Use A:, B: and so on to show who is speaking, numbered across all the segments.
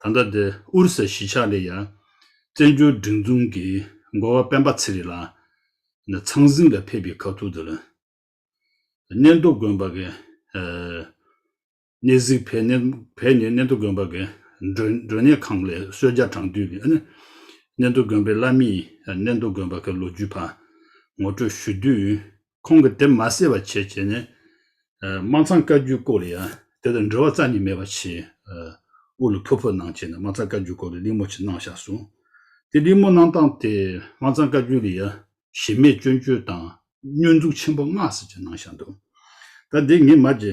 A: ད་ལྟ་འདི་ཨུ་རུ་སའི་གཞིས་ཆགས་ལས་ཡར། བཙན་བྱོལ་སྒྲིག་འཛུགས་ཀྱི་མགོ་བ་སྤེན་པ་ཚེ་རིང་ལགས། ནས་ཚང་གཟིགས་ལ་ཕེབས་པའི་ཁ་ཐུག་འདི་ལ། གནས་མདོ་དགོན་པ་གི། གནས་གཟིགས་བས་ནས་གནས་མདོ་དགོན་པ་གི་མགྲོན་གནས་ཁང་ལས་གསོལ་བརྒྱ་བགྲང་དུས་ཀྱི་གནས་མདོ་དགོན་པའི་བླ་མས་གནས་མདོ་དགོན་པ་གི་ལོ་རྒྱུས་པར་ངོ་སྤྲོད་ཞུ་དུས། ཁོང་གིས་དེ་མ་གསལ་བར་བྱེད་ཅེས་ནས། དམངས་ཚང་བཀའ་བརྒྱུད་སྐོར་ལ་ཡང་དེ་དང་འབྲེལ་བ་རྩ་གཉིས་མེད་པ་བྱས། དབུ་ལུ་ཕུ་ཕུ་གནང་བྱས་ནས་དམངས་ཚང་བཀའ་བརྒྱུད་སྐོར་ལ་གླེང་མོ་ཆེ་གནང་བཞག་སོང། དེ་གླེང་མོ་གནང་སྟངས་དེ་དམངས་ཚང་བཀའ་བརྒྱུད་ལ་ཡང་གཞི་མེད་སྐྱོན་བརྗོད་དང་བསྙོན་འཛུགས་ཆེན་པོ་སྔགས་ཟེར་གྱིས་གནང་བཞག་འདུག་ད་འདི་ངས་མ་རྗེ་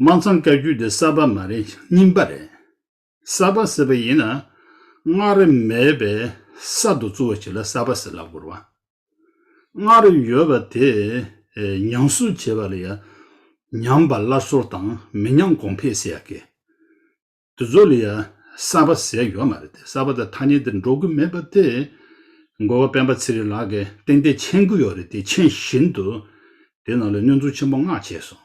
A: དམངས་འཚང་བཀའ་བརྒྱུད་དེ་གསར་པ་མ་རེད་རྙིང་པ་རེད། གསར་པ་ཟེར་བ་ཡིན་ན་སྔགས་རེ་མེད་པས་གསར་དུ་བཙུགས་བ་ཞིག་ལ་གསར་པ་ཟེར་ལབ་དགོས་རང། སྔགས་རེ་ཡོད་པ་དེ་ཉམས་གསོ་བྱེད་པ་ལ་ཡང་ཉམས་པ་སླར་གསོར་དང་མི་ཉམས་གོང་འཕེལ་ཟེར་ཡག་གི། དེ་ཚོ་ལ་ཡང་གསར་པ་ཟེར་ཡོད་མ་རེད་དེ་གསར་པ་དང་ཐ་སྙད་དེ་འགྲོ་གི་མེད་པ་དེ། འགོ་བ་སྤེན་པ་ཚེ་རིང་ལགས་ཀྱིས་ཏན་ཏན་མཆན་གུ་ཡོད་རེད་དེ་མཆན་བཞིན་དུ་དེ་ནང་ལ་སྙོན་འཛུགས་ཆེན་པོ་མངགས་བྱས་སོང།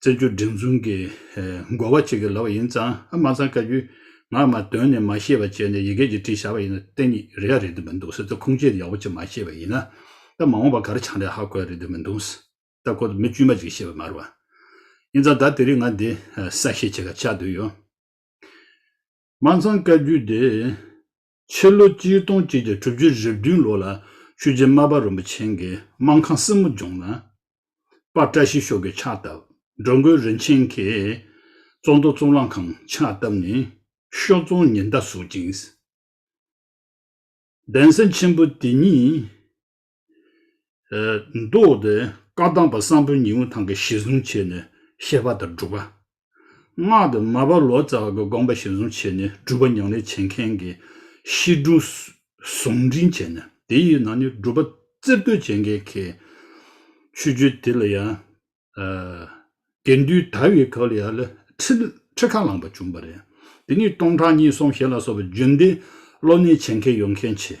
A: བཙན་བྱོལ་བསྒྲིགས་འཛུགས་ཀྱི་འགོ་བ་གཅིག་གི་ལབ་པ་ཡིན་ཙང་ཨ་མ་ཚང་བཀའ་བརྒྱུད་ངག་མ་དོན་ནས་མ་ཤེས་པ་བྱས་ནས་ཡི་གེ་གཅིག་བྲིས་བཞག་པ་ཡིན་ན་གཏན་ཉིད་རེད་ཡ་རེད་འདོད་མི་འདུག་སེ་ད་ཁུངས་སྐྱེལ་ཡག་པོ་གཅིག་མ་ཤེས་པ་ཡིན་ན་ད་མ་འོངས་པ་གར་ཆགས་འདྲ་ཧ་གོ་ཡ་རེད་འདོད་མི་འདུག་སེ་ད་ཁོ་ད་མི་དཀྱུས་མ་གཅིག་ཤེས་པ་མ་རེད་བ། ཡིན་ཙང་ད་དེ་རིགས་ང་འདི་གསལ་བཤད་བྱེད་ཁ་ཆགས་འདོད་ཡོད། མ་ཚང་བཀའ་བརྒྱུད་དེ། ཕྱི་ལོ་སྤྱི་སྟོང་གཅིག་བརྒྱ་དྲུག་ཅུ་རེ་བདུན་ལོ་ལ་ཆོས་རྗེ་སྨར་པ་རོན་པོ་ཆེ་མགལ་དམག་ཁང་སྲིན་མོ་ལྗོངས་ན། པར་བཀྲ་ཤིས་ཤོག་གིས་ཕྱག་བཏབ། འགྲོ་མགོན་རིན་ཆེན་མཁས། གཙོ་འདོགས་གཙུག་ལག་ཁང་ཕྱག་བཏབ་ནས། ཤོག་རྫོང་ཉི་ཟླ་གཟུགས་ཅན། གདན་ས་ཆེན་པོ་དེ་ཉིད། མདོ་སྡེ་བཀའ་གདམས་པ་བསམ་པོ་ཉིད་འུ་ཐང་གི་གཞི་བཟུང་བྱས་ནས་བཤད་པ་དང་སྒྲུབ་པ། སྔགས་དེ་མ་བ་ལོ་ཙཱ་བ་གི་དགོངས་པ་གཞི་བཟུང་བྱས་ནས་སྒྲུབ་པ་ཉམས་ལེན་བྱེད་མཁན་གྱི་གཤིས་འབྲུ་ཟུང་འབྲིང་བྱས་ནས་དེ་ཡི་ནང་ནས་སྒྲུབ་པ་རྩེར་གཏོད་བྱེད་མཁན་གྱི་ཆོས་བརྒྱུད་དེ་ལ་ཡང། དགེ་འདུན་དར་བའི་སྐབས་ལ་ཡང་ལ་ཁྲི་ཁ་ལངས་པ་བྱུང་བ་རེད། དེ་ནས་སྟོང་ཕྲག་གཉིས་གསུམ་ཞེ་ལ་སོགས་པའི་རྒྱུན་དེ་བློ་གནས་བྱེད་མཁན་ཡོང་མཁན་ཆེ།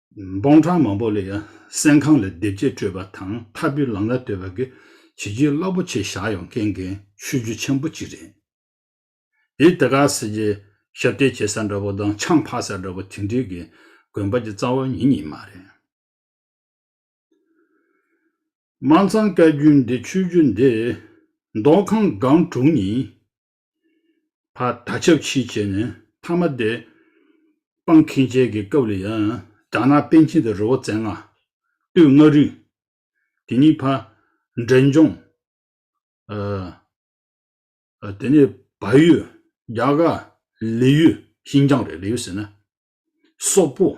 A: འབོང་ཁྲ་མང་པོ་ལ་ཡང་སེམས་ཁམས་ལ་བདེ་སྐྱིད་སྤྲོད་པ་དང་འཐབ་པོའི་ལམ་ལ་གཏོད་པ་གི་བྱེད་རྒྱུ་རླབས་པོ་ཆེ་བཞག་ཡོང་མཁན་གྱི་ཆོས་བརྒྱུད་ཆེན་པོ་གཅིག་རེད། དེས་དེ་གར་སྲིད་ཀྱི་ཞབས་སྟེགས་བྱེད་ས་འདྲ་པོ་དང་ཆང་ཕག་ས་འདྲ་པོ་དེ་འདྲིའི་གི་དགོན་པ་གྱི་རྩ་བ་ཉིད་ཉིད་མ་རེད། དམར་མཚང་བཀའ་བརྒྱུད་འདི་ཆོས་བརྒྱུད་འདི། མདོ་ཁམས་སྒང་དྲུག་གཉིས། བ་ད་ཆབ་ཕྱིས་བྱས་ནས་མཐའ་མ་དེ། སྤང་ཁེན་བྱས་ཀྱི་སྐབས་ལ་ཡང། དགྲ་ནག་པན་ཆེན་དེ་རི་བོ་རྩེ་ལྔ། སྟོད་མངའ་རིས། དེ་གཉིས་བར། འབྲས་ལྗོངས། དེ་ནས་བལ་ཡུལ། རྒྱ་གར། ལི་ཡུལ། ཤིན་ཅང་རེད་ལི་ཡུལ་ཟེར་ན། སོག་པོ།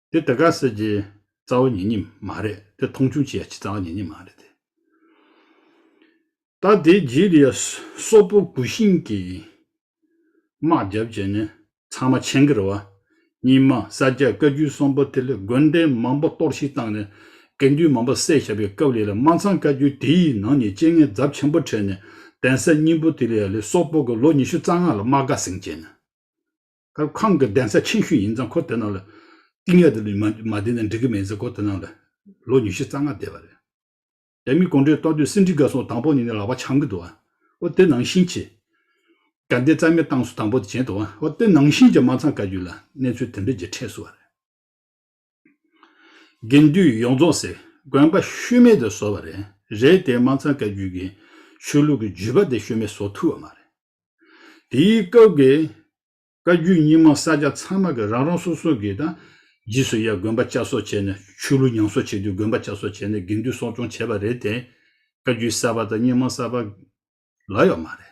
A: དེ་ད་ག་ཟེར་གྱི། རྩ་བ་ཉེ་གཉིས་མ་རེད་དེ་མཐོང་ཆུང་བྱེད་ཡ་ཆི་རྩ་བ་ཉེ་གཉིས་མ་རེད་དེ། ད་དེའི་རྗེས་ལ་ཡ་སོག་པོ་གུ་ཤིང་གི་དམག་རྒྱབ་བྱས་ནས་ཚང་མ་ཆེན་གི་ར་བ། གཉིས་མ་ས་སྐྱ་བཀའ་རྒྱུད་གསུམ་པོ་དེ་ལས་དགོན་སྡེ་མང་པོ་གཏོར་བཤིག་བཏང་ནས་དགེ་འདུན་མང་པོ་བསད་བཞག་པའི་སྐབས་ལས་ལ་དམག་ཚང་བཀའ་རྒྱུད་དེ་ཡི་ནང་ནས་སྤྱན་ལྔའི་འཛབ་ཆེན་པོ་ཁྲེས་ནས་གདན་ས་གཉིས་པོ་དེ་ལ་ཡ་ལས་སོག་པོ་གི་ལོ་ཉི་ཤུ་རྩ་ལྔ་ལ་དམག་དགའ་སེང་བྱས་ནས། སྐབས་ཁང་གི་གདན་ས་ཆེན་ཤོས་ཡིན་ཙང་ཁོ་དེ་ནང་ལ་གཏིང་ཡག་ཏུ་མ་བསྡད་ན་འགྲིག་གི་མེད་ཟེར་ཁོ་དེ་ནང་ལ་ལོ་ཉི་ཤུ་རྩ་ལྔ་བསྡད་པ་རེད། རྒྱ་མི་གུང་ཁྲན་ཏང་དུས་སྲིད་འགྲིག་དགའ་སོང་དང་པོ་ནས་ནས་ལག་པ་འཆང་གི་འདུག་ཨོ་དེ་ནང་བཞིན་གྱི། དགའ་ལྡན་རྩ་མེད་བཏང་སུ་དང་པོ་དེ་བྱས་འདུག་ཨོ་དེ་ནང་བཞིན་གྱི་མ་ཚང་བཀའ་བརྒྱུད་ལ་གནས་ཚུལ་དེ་འདྲ་གྱི་འཕྲད་སུ་བ་རེད། དགེ་འདུན་ཡོངས་རྫོགས་སའི་དགོན་པ་ཤུལ་མེད་དུ་བཟོ་བ་རེད་རེད་དེ་མ་ཚང་བཀའ་བརྒྱུད་ཀྱི་ཆོས་ལུགས་ཀྱི་བརྒྱུད་པ་དེ་ཤུལ་མེད་བཟོ་ཐུབ་བ་མ་རེད། དེའི་སྐབས་ཀྱི་བཀའ་བརྒྱུད་རྙིང་མ་ས་སྐྱ་ཚང་མ་གི་རང་རང་སོ་སོ་གི་དང་རྗེས་སུ་ཡ་དགོན་པ་བསྐྱར་གསོ་བྱས་ནས་ཆོས་ལུགས་ཉམས་གསོ་བྱེད་དུས་དགོན་པ་བསྐྱར་གསོ་བྱས་ནས་དགེ་འདུན་གསོ་སྐྱོང་བྱས་པ་རེད་དེ་བཀའ་བརྒྱུད་གསར་པ་དང་རྙིང་མ་གསར་པ་ལ་ཡོད་མ་རེད།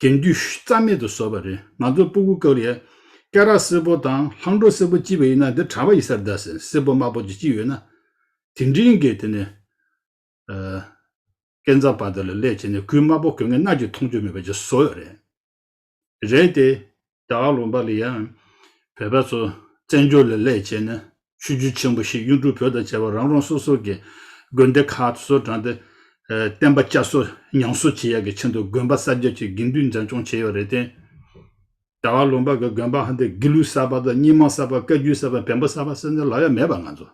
A: དེང་དུས་རྩ་མེད་དུ་བཟོ་བ་རེད་ང་ཚོ་སྤུ་གུ་ཀ་རེད། སྐེ་རག་སེར་པོ་དང་ལྷང་འགྲོ་སེར་པོ་ལྕི་བ་ཡིན་ན་དེ་གྲ་བ་ཡི་སར་བདའ་ཟེར་སེར་པོ་དམར་པོ་ཅིག་ཅིག་ཡོད་ན། དེ་འབྲིང་གི་དེ་ནས། སྐེ་མཛའ་བ་དེ་ལ་ལས་བྱས་ནས་གུས་དམར་པོ་གོས་ངན་སྣ་གཅིག་མཐོང་ཆོས་མེད་པ་ཅིག་བཟོ་ཡོད་རེད། རེད་དེ། བདག་ལུང་པ་ལི་ཡཱན། བོད་པ་ཚོ་བཙན་བྱོལ་ལས་ལས་བྱས་ནས་ཆོས་བརྒྱུད་ཆེན་པོ་བཞི་གཡུང་དྲུང་བོད་དང་བཅས་པ་རང་རང་སོ་སོ་གི་དགོན་སྡེ་ཁག་ཏུ་སོ་དྲངས་ཏེ། བསྟན་པ་བསྐྱར་གསོ་ཉམས་གསོ་བྱེད་ཡག་གི་ཆེད་དུ་དགོན་པ་གསར་རྒྱག་ཆེད་དགེ་འདུན་འཛིན་སྐྱོང་བྱས་ཡོད་རེད་དེ། བདག་ལུང་པ་གི་དགོན་པ་འདི་དགེ་ལུགས་གསར་པ་དང་རྙིང་མ་གསར་པ་བཀའ་བརྒྱུད་གསར་པ་བེམ་པོ་གསར་པ་སེམས་ཅན་ལག་ཡ་མེད་པ་ང་ཚོ།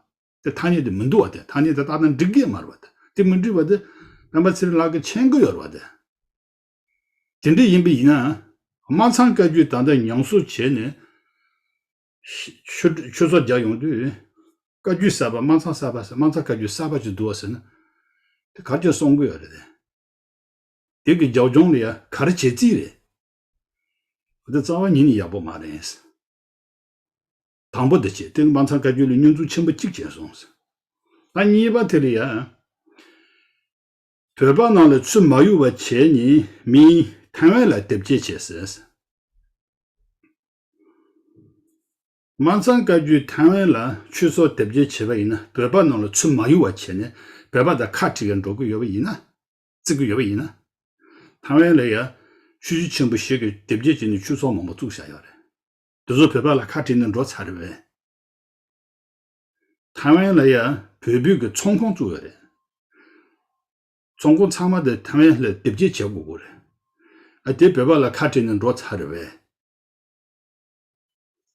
A: དེ་ཐ་སྙད་དེ་མི་འདུག་བ་དེ་ཐ་སྙད་དེ་རྟག་ན་འགྲིག་གི་མ་རེད་བ་དེ་དེ་མི་འགྲིག་བ་དེ་བེམ་པོ་ཚེ་རིང་ལགས་ཀྱི་མཆན་བཀོད་ཡོད་རེད་བ་དེ། དེ་འདྲ་ཡིན་པ་ཡིན་ན། དམར་ཚང་བཀའ་བརྒྱུད་ད་ལྟ་མྱོང་བཟོ་བྱས་ནས། ཆོས་ཚོགས་རྒྱག་ཡོང་དུས། བཀའ་བརྒྱུད་གསར་པ་དམར་ཚང་གསར་པ་ཟེར་དམར་ཚང་བཀའ་བརྒྱུད་གསར་པ་ཅིག་འདུག་བ་ཟེར་ན། དེ་གར་ཁྱོད་སོང་གི་ཡོད་རེད། དེ་གི་རྒྱབ་ལྗོངས་ལ་ཡ་གར་བྱེད་རྩིས་རེད། གོ་དེ་རྩ་བ་ཉིད་ནས་ཡག་པོ་མ་རེད། དང་པོ་དེ་བྱས་དེ་དམར་ཚང་བཀའ་བརྒྱུད་ལ་སྙོན་འཛུགས་ཆེན་པོ་གཅིག་བྱས་སོང། ད་གཉིས་པ་དེ་ལ་ཡ། བོད་པ་རྣམས་ལ་ཆུ་མ་གཡུག་བ་བྱས་ནི་མིན། ཐའེ་ཝན་ལ་དེབ་སྐྱེལ་བྱས་ཟེར། མ་ཚང་བཀའ་བརྒྱུད་ཐའེ་ཝན་ལ་ཆུ་སོགས་དེབ་སྐྱེལ་བྱས་པ་ཡིན་ན་བོད་པ་རྣམས་ལ་ཆུ་མ་གཡུག་བ་བྱས་ནས་བོད་པ་དང་ཁ་ཁྲིག་གེར་འགྲོ་གི་ཡོད་པ་ཡིན་ན། བརྩི་གི་ཡོད་པ་ཡིན་ན། ཐའེ་ཝན་ལ་ཡང་ཆུ་བཞི་ཆེན་པོ་ཞིག་གི་དེབ་སྐྱེལ་བྱས་ནས་ཆུ་ཚོགས་མང་པོ་བཙུགས་བཞག་ཡོད་རེད། དེ་ཚོ་བོད་པ་ལ་ཁ་ཁྲིག་ནས་འགྲོ་ཚར་རེད་བས། ཐའེ་ཝན་ལ་ཡང་བོད་སྤོས་ཀྱི་ཚོང་ཁོངས་བཙུགས་ཡོད་རེད། ཚོང་ཁོངས་ཚང་མ་དེ་ཐའེ་ཝན་ལ་སྡེབ་སྐྱེལ་བྱེད་དགོས་ཀྱི་རེད། ཨ་དེ་བོད་པ་ལ་ཁ་བྲལ་ནས་འགྲོ་ཚར་རེད་བས།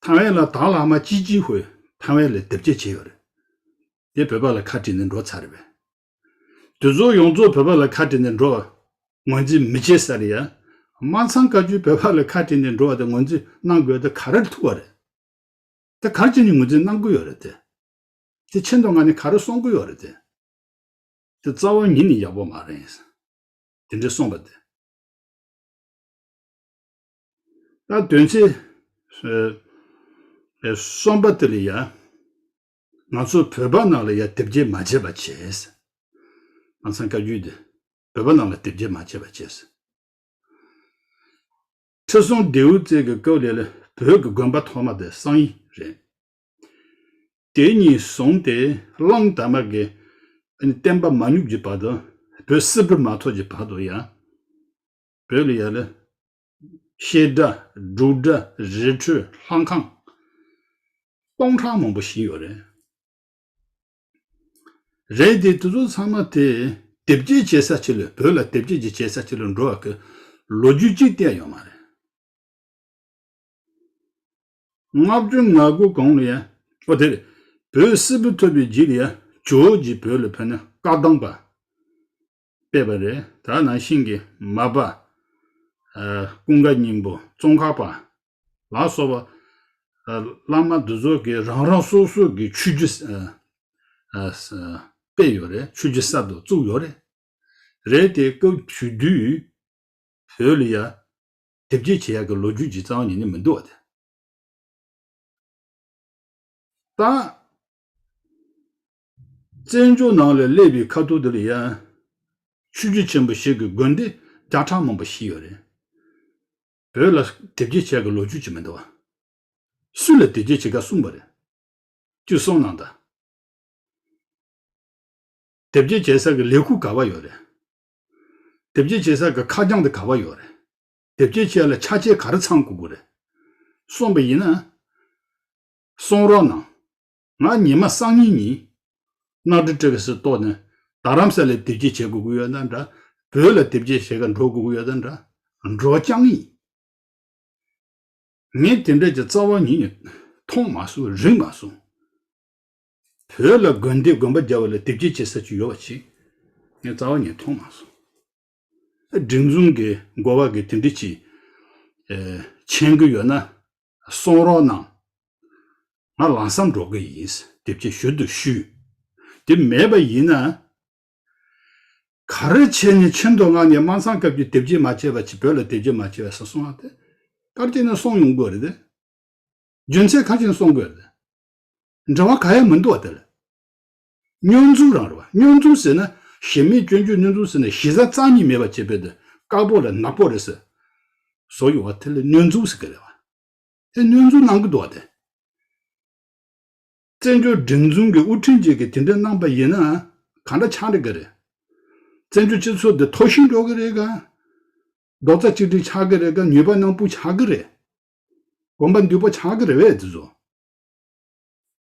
A: ཐའེ་ཝན་ལ་དྭགས་ལྷག་མ་ཅི་ཅི་ཧོས་ཐའེ་ཝན་ལ་སྡེབ་སྐྱེལ་བྱས་ཡོད་རེད། དེ་བོད་པ་ལ་ཁ་བྲལ་ནས་འགྲོ་ཚར་རེད་བས། དེ་ཚོ་ཡོངས་རྫོགས་བོད་པ་ལ་ཁ་བྲལ་ནས་འགྲོ་བར་ངོས་འཛིན་མི་བྱེད་ས་རེད་ཡ། དམངས་ཚང་བཀའ་བཅུ་བོད་པ་ལ་ཁ་བྲལ་ནས་འགྲོ་བ་དེ་ངོས་འཛིན་གནང་དགོས་ད་ག་རེར་ཐུག་པ་རེད། དེ་གར་ཁྱེད་ནི་ངོས་འཛིན་གནང་དགོས་ཡོད་རེད་དེ། དེ་ཕྱིར་མདོ་སྔགས་ནི་ག་རེ་གསུང་དགོས་ཡོད་རེད་དེ། དེ་རྩ་བ་ཉིད་ནི་ཡག་པོ་མ་རེད། དེ་འདྲའི་གསུངས་པ་དེ། ད་དོན་ཚེ། གསུངས་པ་དེ་ལ་ཡ། ང་ཚོ་བོད་པ་རྣམས་ལ་ཡ་དེབ་སྐྱེལ་མ་བྱེད་པ་བྱས། ང་ཚང་བཀའ་རྒྱུད་དེ། བོད་པ་རྣམས་ལ་དེབ་སྐྱེལ་མ་བྱེད་པ་བྱས། ཁྲི་སྲོང་ལྡེའུ་བཙན་གྱི་སྐབས་ལས་ལ་བོད་ཀྱི་དགོན་པ་ཐོག་མ་དེ་བསང་ཡིག་རེད། དེ་གཉིས་བཟུང་སྟེ་གླང་དར་མ་གི་བསྟན་པ་མ་ཉུབ་ཀྱི་བར་དུ་བོད་སིལ་བུ་མ་ཐོགས་ཀྱི་བར་དུ་ཡང་བོད་ལ་ཡ་ལ་ཤེལ་དགྲ་འབྲུག་དགྲ་རི་ཁྲོད་ལྷ་ཁང་སྟོང་ཕྲག་མང་པོ་བཞེངས་ཡོད་རེད། རེད་དེ་དེ་ཚོ་ཚང་མ་དེ། དེབ་སྐྱེལ་བྱེད་ས་ཆེ་ལོས་བོད་ལ་དེབ་སྐྱེལ་གྱི་བྱེད་ས་ཆེ་ལོས་འགྲོ་བ་གི། ལོ་རྒྱུས་གཅིག་བལྟས་ཡོད་མ་རེད། བསྔགས་བརྗོད་ངག་སྒོ་གང་ལ་ཡ། ཨོ་དེ་རེད། བོད་སིལ་བུ་ཐོད་པའི་རྗེས་ལ་ཡ། ཇོ་བོ་རྗེ་བོད་ལ་ཕེབས་ན་བཀའ་གདམས་པ། སྤེལ་བ་རེད་ད་ནང་ཤིང་གི་མ་པ། ཀུན་དགའ་སྙིང་པོ་ཙོང་ཁ་པ། ལ་སོགས་པ། བླ་མ་འདི་ཚོ་གི་རང་རང་སོ་སོ་གི་ཆོས་རྒྱུད། སྤེལ་ཡོད་རེད་ཆོས་རྒྱུད་གསར་དུ་བཙུགས་ཡོད་རེད། རེད་དེ་སྐབས་དུས་དུས། བོད་ལ་ཡ། དེབ་སྐྱེལ་བྱེད་ཡག་གི་ལོ་རྒྱུས་ཀྱི་རྩ་བ་ཉིད་ནས་མི་འདུག་བ་དེ། ལྟ། བཙན་བྱོལ་ནང་ལ་སླེབས་པའི་ཁ་ཐུག་དེར་ཡང། ཆོས་རྒྱུད་ཆེན་པོ་ཞིག་གི་དགོན་སྡེ་བརྒྱ་ཕྲག་མང་པོ་ཞིག་ཡོད་རེད། བོད་ལ་དེབ་སྐྱེལ་བྱས་ཀྱི་ལོ་རྒྱུས་ཅིག་མི་འདུག། སུ་ལ་དེབ་སྐྱེལ་བྱེད་ཀ་གསུངས་པ་རེད། བཅུ་གསུམ་ནང་དང། དེབ་སྐྱེལ་བྱེད་ས་གི་ལས་ཁུག་ག་བ་ཡོད་རེད། དེབ་སྐྱེལ་བྱེད་ས་གི་ཁ་རྒྱང་དེ་ག་བ་ཡོད་རེད། དེབ་སྐྱེལ་བྱས་ལ་ཆ་བྱད་ག་རེ་ཚང་དགོས་དགོས་རེད། གསུངས་པ་ཡིན་ན། གསུངས་རོགས་གནང། ང་ཉི་མ་སང་ཉིན་ཉིན། གནའ་དྲུག་བཀྲ་བའི་སི་ཏོག་ནི། རྡ་རམ་ས་ལའི་དེབ་སྐྱེལ་བྱེད་དགོས་ཀྱི་ཡོད་ན་འདྲ། བོད་ལ་དེབ་སྐྱེལ་བྱེད་ཁར་འགྲོ་དགོས་ཀྱི་ཡོད་ན་འདྲ། འགྲོ་རྐྱང་ཡིན། ངས་དེ་འདྲ་གྱི་རྩ་བ་ཉིད་ནས། མཐོང་མ་སོང་རིག་མ་སོང། བོད་ལ་དགོན་སྡེ་དགོན་པ་རྒྱ་བོད་ལ་དེབ་སྐྱེལ་བྱེད་ས་ཅིག་ཡོད་པ་ཅིག། ངས་རྩ་བ་ཉིད་མཐོང་མ་སོང། སྒྲིག་འཛུགས་ཀྱི་འགོ་བ་གིས་དེ་འདྲི་གྱིས། མཆན་བཀོད་ཡོད་ན། གསུང་རོགས་གནང། ང་ལང་སའམ་འགྲོ་གི་ཡིན། དེབ་ཆེ་ཞུ་འདུག་ཞུ། དེབ་མེད་པ་ཡིན་ན། ག་རེ་བྱས་ནས་ཆེ་མདོ་སྔགས་ནས་དམའ་མཚང་སྐབས་ཀྱི་དེབ་ཆེ་མ་བྱས་པ་བོད་ལ་དེབ་ཆེ་མ་བྱས་པ་ས་སོང་བ་དེ། དཀར་བསྐྱེད་ནས་སོང་ཡོང་དགོས་རེད་དེ། རྒྱུན་ཚད་ཁ་ཆེ་ནས་སོང་དགོས་རེད་དེ། འབྲེལ་བ་ག་ཡང་མི་འདུག་བ་དེ་ལ། སྙོན་འཛུམ་རང་རེད་བ། སྙོན་འཛུམ་ཟེར་ན། ཞེ་མེད་སྐྱོན་བརྗོད་སྙོན་འཛུམ་ཟེར་ན་ཞེ་བཟའ་རྩ་གཉིས་མེད་པ་ཅེས་པའི་དོན་དཀར་པོ་ལ་ནག་པོ་རེད་ཟེར། བཟོ་ཡོད་བ་དེ་ལ་སྙོན་འཛུམ་ཟེར་གི་རེད་བ། དེ་སྙོན་འཛུམ་གནང་གི་འདུག་བ་དེ། བཙན་བྱོལ་སྒྲིག་འཛུང་གི་དབུ་ཁྲིད་ཅིག་གིས་དེ་འདྲ་གནང་པ་ཡིན་ན། ག་འདྲ་ཆགས་འགྲིག་གི་རེད། བཙན་བྱོལ་སྤྱི་ཚོགས་འདི་མཐོ་ཞིང་འགྲོ་གི་རེད་ག། རྡོག་རྩ་གཅིག་སྒྲིལ་ཆགས་གི་རེད་ག་ཉོས་པ་ནང་སྤུ་ཆགས་གི་རེད། གོམ་པ་འདུས་པོ་ཆགས་གི་རེད་བས་དེ་བཟོ།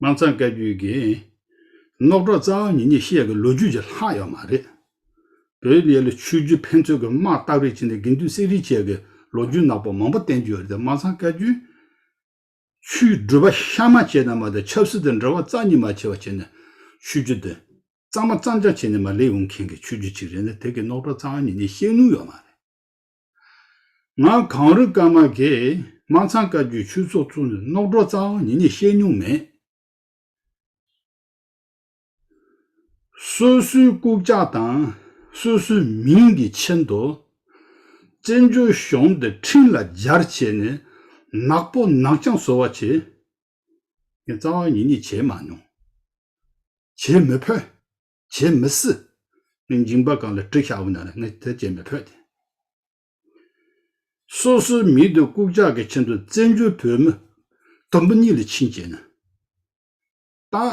A: དམར་མཚང་བཀའ་བརྒྱུད་ཀྱི། རྣོ་གྲོགས་རྩ་བ་ཉིད་གཉིས་བཤད་ཀྱི་ལོ་རྒྱུས་ཀྱི་ལྷག་ཡོད་མ་རེད། བོད་ཡུལ་ལ་ཆོས་བརྒྱུད་ཕན་ཚུན་གྱི་དམག་རྟགས་རིགས་བྱས་ནས་དགེ་འདུན་གསེར་རི་བཅས་ཀྱི་ལོ་རྒྱུས་ནག་པོ་མང་པོ་བསྟན་རྒྱུ་ཡོད་རེད་དམར་མཚང་བཀའ་བརྒྱུད། ཆོས་བསྒྲུབ་པ་ཤ་མ་བྱས་ན་མ་གཏོགས་ཆབ་སྲིད་དང་འབྲེལ་བ་རྩ་གཉིས་མ་བྱས་པ་བྱས་ནས་ཆོས་བརྒྱུད་དེ། གཙང་མ་གཙང་ཆགས་བྱས་ནས་མ་ལས་འོང་མཁན་གྱི་ཆོས་བརྒྱུད་ཅིག་རེད་ན་དེ་གི་རྣོ་གྲོགས་རྩ་བ་ཉིད་གཉིས་བཤད་ནུས་ཡོད་མ་རེད། ང་གངས་རི་སྐར་མ་དགེ། དམངས་ཚང་བཀའ་བརྒྱུད་ཆོས་ཚོགས་གཙོ་ནས་རྣོག་གྲོགས་ཙའང་ཉིན་ནས་བཤད་མྱོང་མེད། སོ་སོའི་རྐུབ་ལྕག་དང། སོ་སོའི་མིང་གི་ཆེན་དུ། བཙན་བྱོལ་གཞུང་འདི་འཕྲིན་ལ་སྦྱར་བྱས་ནས། ནག་པོ་ནག་རྐྱང་བཟོ་བ་བྱས། ངས་ཙའང་ཉིན་ནས་བྱས་མ་མྱོང། བྱེད་མི་ཕོད། བྱེད་མི་སྲིད། འཇིང་པ་གང་ལ་དྲི་ཤ་བོ་ན་ལ་ངས་དེ་བྱེད་མི་ཕོད་དེ། སོ་སོའི་མིང་དུ་ལྐུག་ཇག་གི་ཆེད་དུ་བཙན་བྱོལ་བོད་མི་དུམ་བུ་གཉིས་ལ་ཕྱིན་བྱས་ན། དང།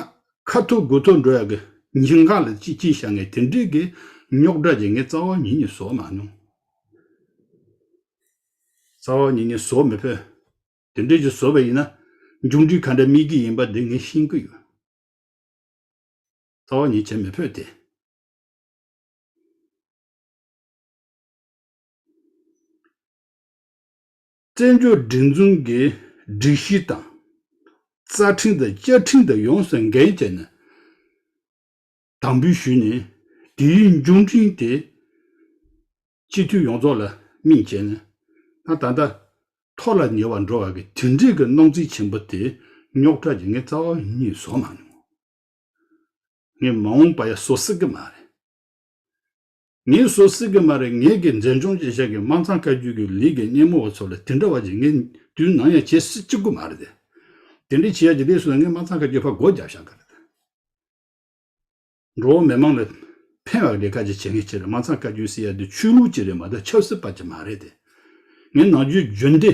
A: ཁ་ཐུག་དགུ་ཐུག་འགྲོ་ཡག་གི་ཉིན་གང་ལ་ཅི་བྱེད་བྱ་ངས་དེ་འགྲིག་གི་རྙོག་དྲ་རྒྱག་ངས་རྩ་བ་ཉིད་ནས་བཟོ་མ་མྱོང། རྩ་བ་ཉིད་ནས་བཟོ་མི་ཕོད། དེ་འདྲས་ཀྱི་བཟོ་བ་ཡིན་ན་མཇུག་འབྲས་ག་འདྲ་སྨིན་གི་ཡིན་པ་དེ་ངས་ཤེས་ཀི་ཡོད། རྩ་བ་ཉིད་བྱེད་མི་ཕོད་དེ། བཙན་བྱོལ་སྒྲིག་འཛུགས་ཀྱི་སྒྲིག་གཞི་དང། རྩ་ཁྲིམས་དང་བཅའ་ཁྲིམས་དང་ཡོངས་སུ་འགལ་བྱས་ནས་དམ་འབུལ་ཞུས་ནས་དེའི་འབྱོར་འབྲིང་དེ་སྤྱི་འཐུས་ཡོངས་རྫོགས་ལ་སྨིན་བྱས་ནས་ད་ད་ལྟ་ཐོག་ལ་ཉེ་བར་འགྲོ་བ་གི་དེ་འབྲེལ་གྱི་སྣང་ཚུལ་ཆེན་པོ་དེ་རྙོག་དྲ་ཀྱི་ངའི་རྩ་བ་ཉིད་བཟོ་མ་མྱོང། ངས་མ་འོངས་པ་ཡ་བཟོ་སྲིད་ཀྱི་མ་རེད། ངས་བཟོ་སྲིད་ཀྱི་མ་རེད་ངེད་ཀྱི་འཛིན་སྐྱོང་བྱེད་ཤག་གི་དམངས་ཚང་བཀའ་བརྒྱུད་ཀྱི་ལིས་ཀྱི་སྙེ་མོ་བ་ཚོ་ལ་དེ་འདྲ་བ་ཅིག་ངས་དུས་ནམ་ཡང་བྱེད་སྲིད་ཀྱི་མ་རེད། དེ་འདྲའི་བྱེད་ཡ་ཅིག་དེས་སུ་ལ་ངའི་དམངས་ཚང་བཀའ་བརྒྱུད་ཕར་སྒོ་རྒྱབ་ཤག་ག་རེད། འགྲོ་བ་མི་མང་ལ་ཕན་བ་ལས་ཀ་ཅིག་བྱེད་མཁན་གཅིག་རེད་དམངས་ཚང་བཀའ་བརྒྱུད་སྲིད་ཡ་དེ་ཆོས་ལུགས་ཅིག་རེད་མ་གཏོགས་ཆབ་སྲིད་པ་ཅིག་མ་རེད་དེ། ངས་ནང་བརྒྱུད་བརྒྱུད་འདི།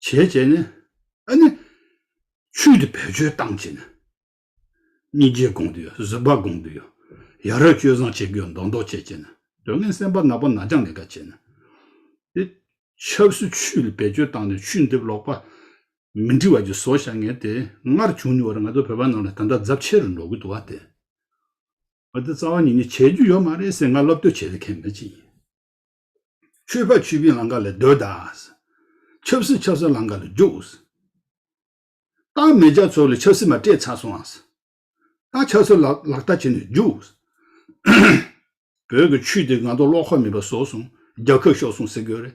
A: བྱས་བྱས་ནས་ཨ་ནི། ཆུས་དེ་བེད་སྤྱོད་བཏང་བྱས་ནས། གཉིས་རྗེས་དགོངས་དུ་ཡོད་གཟིགས་པ་དགོངས་དུ་ཡོད། ཡ་རབས་སྤྱོད་བཟང་བྱེད་དགོས་མདོག་མདོག་བྱས་བྱས་ནས། དོན་ངན་སེམས་པ་ནག་པོ་ནག་ཅང་ལས་ཀ་བྱས་ནས། དེ། ཆབ་སྲིད་ཆུས་ལ་བེད་སྤྱོད་བཏང་ནས་ཆུས་འདེབས་ལོག་པ། མི་འདྲི་བ་ཅིག་བཟོ་བཞག་ངས་དེ་སྔར་བྱུང་མྱོང་བར་ང་ཚོ་བོད་པ་རྣམས་ལ་ད་ལྟ་རྫབ་ཆེ་རུ་འགྲོ་གི་འདུག་བ་དེ། བ་དེ་རྩ་བ་ཉིད་ནས་བྱེད་རྒྱུ་ཡོད་མ་རེད་ཟེར་ང་སློབ་བསྟོད་བྱེད་ཀྱི་མཁན་མི་ཅིག་ཡིན། མཆོད་པ་མཆོད་པའི་ལངྐ་ལ་སྡོད་ད། ཆབ་སྲིད་ཆབ་སྲིད་ལངྐ་ལ་རྒྱུགས། སྟག་མེ་རྒྱ་མཚོ་ལ་ཆབ་སྲིད་མ་སྤྲད་ཚར་སོང་ཨང། སྟག་ཆབ་སྲིད་ལ་ལག་བསྟར་བྱས་ནས་རྒྱུགས། བོད་ཀྱི་ཆོས་དེ་ང་ཚོ་བློ་ཁོག་མེད་པ་བཟོ་སོང་རྒྱ་ཁབ་ཤོར་སོང་ཟེར་གྱི་རེད་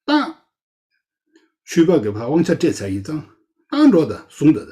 A: སྟག། ཆོས་པ་གི་བ་དབང་ཆ་སྤྲད་ཚར་ཡིན་ཙང་སྟག་འགྲོ་ད་བཟུང་ད་ད།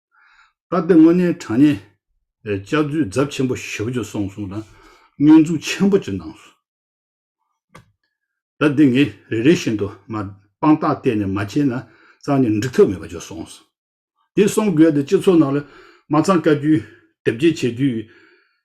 A: ད་ལྟ་དངོས་གནས་དྲང་གནས། ལྕགས་མཛོད་རྫབ་ཆེན་པོ་ཞབས་བརྒྱུད་སོང་གསུང་དང། བསྙོན་འཛུགས་ཆེན་པོ་ཅི་གནང་སོ། ད་འདི་ངས་རེ་རེ་བཞིན་དུ་མ། དཔང་རྟགས་གཏད་ནས་མ་བྱས་ན། གཙང་ནས་འགྲིག་ཐབས་མེད་པ་བརྗོད་སོང་ཟེར། དེ་གསུང་དགོས་ཏེ་སྤྱི་ཚོགས་ནང་ལ། མ་གཙང་བཀའ་བརྒྱུད། དེབ་སྐྱེལ་བྱེད་དུས།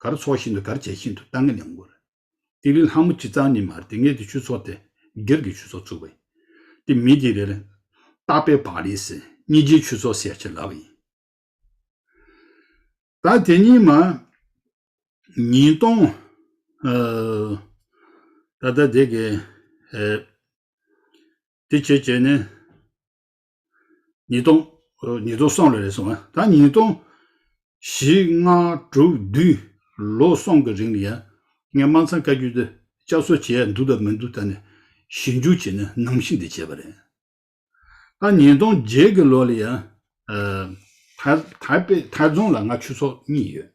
A: གར་ཚོགས་བཞིན་དུ་གར་བྱེད་བཞིན་དུ་རྟ་རྔ་ལེན་དགོས། ཏི་ལི་ལྷ་མོ་སྤྱི་གཙང་ནི་མར་ཏི་ངེ་ཏི་ཆུ་ཚོགས་ཏེ་སྒེར་གྱི་ཆུ་ཚོགས་བཙུགས་པ་ཡིན། མི་དེ་རེར། སྟག་པའི་བག་ལེ་སི་གཉིས་ཀྱི་ཆུ་ཚོགས་ཟེར་བྱས་ལབ་པ་ཡིན། ད་དེ་གཉིས་མ། ཉིས་སྟོང། ད་ད་དེ་གི། དེ་བྱས་བྱས་ནས། ཉིས་སྟོང། ཉིས་སྟོང་སོང་ལ་རེད་སོང་ཨ། ད་ཉིས་སྟོང། བཞི་ལྔ་དྲུག་བདུན། ལོ་སོང་གི་རིང་ལ་ཡ། ངས་དམངས་ཚང་བཀའ་བརྒྱུད་དེ་བསྐྱར་གསོ་བྱས་ཡ་འདུག་དང་མི་འདུག་ད་ནས་ཞིབ་འཇུག་བྱས་ནས་ནམ་ཞིག་འདི་བྱས་པ་རེད། ད་ཉིས་སྟོང་བརྒྱད་གི་ལོ་ལ་ཡ། ཐའི། ཐའི། པེ་ཐའི་རྫོང་ལ་ང་ཆུ་ཚོགས་གཉིས་ཡོད།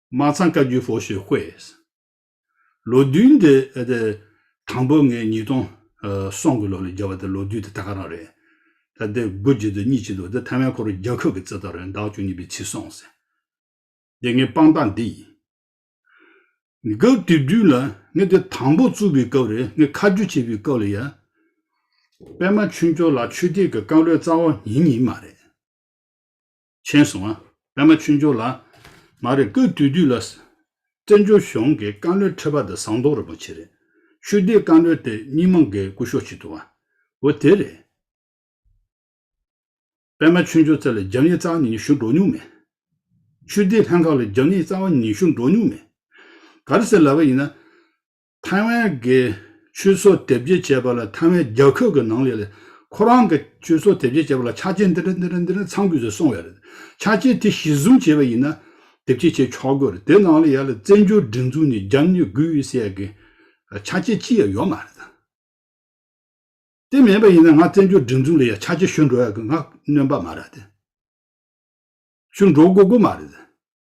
A: མ་ཚང་བཀའ་བརྒྱུད་ཕོ་ཤེ་ཧོས། ལོ་རྡུལ་འདི། དང་པོ་ངས་ཉིས་སྟོང། སོང་གི་ལོ་ལ་བརྒྱབ་པ་དེ་ལོ་རྡུལ་དེ་ད་ག་རང་རེད། ད་དེ་དགུ་གཅིག་དང་གཉིས་གཅིག་འདུག་དེ་ཐ་མའི་ཁོ་རོ་རྒྱ་ཁབ་ཀྱི་རྩེད་ཐོ་རེད་བདག་བཅུ་གཉིས་པའི་ཚིག་སོང་ཟེར། དེ་ངའི་དཔང་རྟགས་འདི་ཡིན། སྐབས་དེ་དུས་ལ་ངས་དེ་དང་པོ་བཙུགས་པའི་སྐབས་རེད་ངས་ཁ་རྒྱུ་བྱས་པའི་སྐབས་ལ་ཡ། པད་མ་ཆོས་འབྱོར་ལགས་ཆོས་སྡེ་གི་བཀའ་བློན་རྩ་བ་ཉིན་གཉིས་མ་རེད། ཆེན་སོང་ཨ། པདྨ་ཆོས་འབྱོར་ལ། མ་རེད་སྐབས་དུས་དུས་ལ། བཙན་བྱོལ་གཞུང་གི་བཀའ་བློན་ཁྲི་པ་དེ་ཟངས་མདོག་རིན་པོ་ཆེ་རེད། ཆོས་སྡེའི་བཀའ་བློན་དེ་སྙིང་མ་འགས་སྐུ་ཤོག་བྱེད་ཐུབ་ཨ། འོ་དེ་རེད། པདྨ་ཆོས་འབྱོར་ཚེ་ལ་རྒྱབ་གཉེར་རྩ་བ་ཉིན་ཞུ་འགྲོ་མྱོང་མེད། ཆོས་སྡེའི་ལྷན་ཁང་ལ་རྒྱབ་གཉེར་རྩ་བ་ཉིན་ཞུ་འགྲོ་མྱོང་མེད། ག་རེ་ཟེར་ལབ་པ་ཡིན་ན། ཐའེ་ཝན་གྱི་ཆུ་སོ་དེབ་སྐྱེལ་བྱས་པ་ལ་ཐའེ་ཝན་རྒྱལ་ཁབ་ཀྱི་ནང་ཡོད་ལ། ཁོ་རང་གིས་ཆུ་སོ་དེབ་སྐྱེལ་བྱས་པ་ལ་ཆ་རྐྱེན་འདི་འདྲ་འདི་འདྲ་འདི་འདྲ་ཚང་དགོས་ཚུལ་གསུངས་ཡོད་རེད། ཆ་རྐྱེན་དེ་གཞི་བཟུང་བྱས་པ་ཡིན་ན། དེབ་སྐྱེལ་བྱས་ཆོག་དགོས་རེད། དེ་ནང་ལ་ཡ་ལ་བཙན་བྱོལ་སྒྲིག་འཛུགས་ནས་རྒྱབ་གཉེར་དགོས་ཟེར་གི། ཆ་རྐྱེན་ཅི་ཡང་ཡོད་མ་རེད་ད། དེ་མེད་པ་ཡིན་ན་ང་བཙན་བྱོལ་སྒྲིག་འཛུགས་ལ་ཡ་ཆ་རྐྱེན་ཞུ་འགྲོ་ཡག་གི་ང་གནོན་པ་མ་རེད་ད། ཞུ་འགྲོ་དགོས་དགོས་མ་རེད་ད།